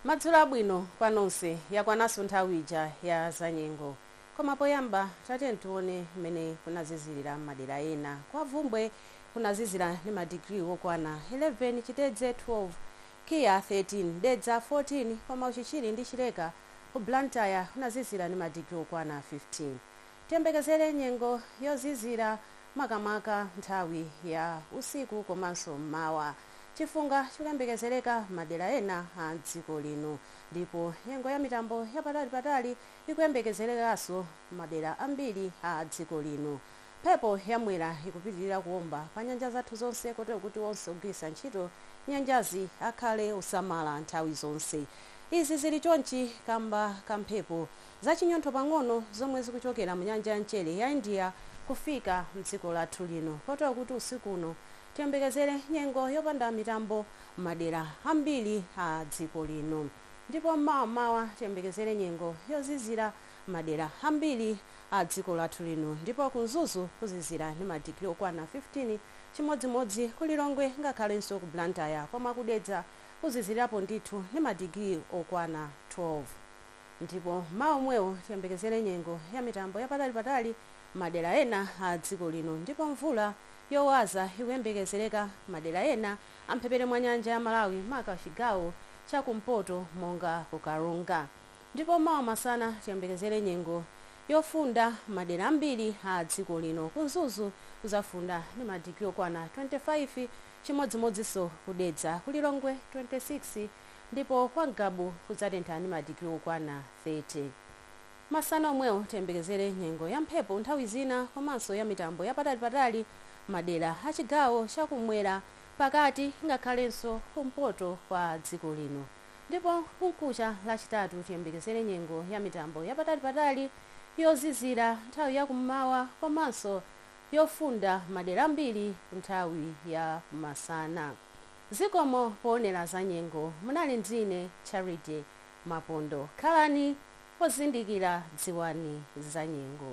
Madzulo abwino kwa nonse, yakwananso nthawi ija ya zanyengo. Koma poyamba tatiyeni tione mmene kunazizirira m'madera ena. Kwa Bvumbwe kunazizira ndi madigiri wokwana 11, Chitedze 12, KIA 13, Dedza 14 koma Uchichiri ndi Chileka ku Blantyre kunazizira ndi madigiri wokwana 15. Tiyembekezere nyengo yozizira makamaka nthawi ya usiku komanso m'mawa. Chifunga chikuyembekezereka madera ena a dziko lino ndipo nyengo ya mitambo ya patali patali ikuyembekezerekanso madera ambiri a dziko lino. Mphepo ya Mwera ikupitilira kuomba pa nyanja zathu zonse kotero kuti onse ogwiritsa ntchito nyanjazi akhale osamala nthawi zonse. Izi zili chonchi kamba ka mphepo zachinyontho pang'ono zomwe zikuchokera mu nyanja ya mchere ya India kufika mdziko lathu lino kotero kuti usiku uno tiyembekezere nyengo yopanda mitambo madera ambiri a dziko lino ndipo m'mawa m'mawa tiyembekezere nyengo yozizira madera ambiri a dziko lathu lino ndipo ku Mzuzu kuzizira ndi madigiri okwana 15 chimodzimodzi ku Lilongwe ngakhalenso ku Blantyre koma ku Dedza kuzizirapo ndithu ndi madigiri okwana 12. Ndipo m'mawa omwewo tiyembekezere nyengo ya mitambo ya patali patali madera ena a dziko lino ndipo mvula yowaza ikuyembekezereka madera ena a mphepete mwa nyanja ya Malawi maka chigawo cha ku mpoto monga ku Karonga. Ndipo mawa masana tiyembekezere nyengo yofunda madera ambiri a dziko lino. Ku Mzuzu kuzafunda ndi ma digiri okwana 25 chimodzimodzinso ku Dedza, ku Lilongwe 26, ndipo kwa Ngabu kudzatentha ndi madigiri okwana 30. Masana omwewo tiyembekezere nyengo ya mphepo nthawi zina komanso ya mitambo ya patalipatali madera a chigawo cha kumwera, pakati ngakhalenso kumpoto kwa dziko lino. Ndipo kumkucha Lachitatu tiyembekezere nyengo ya mitambo ya patalipatali, yozizira nthawi ya kum'mawa komanso yofunda madera ambiri nthawi ya masana. Zikomo poonera za nyengo. Munali ndine Charity Mapondo. Khalani ozindikira, dziwani za nyengo.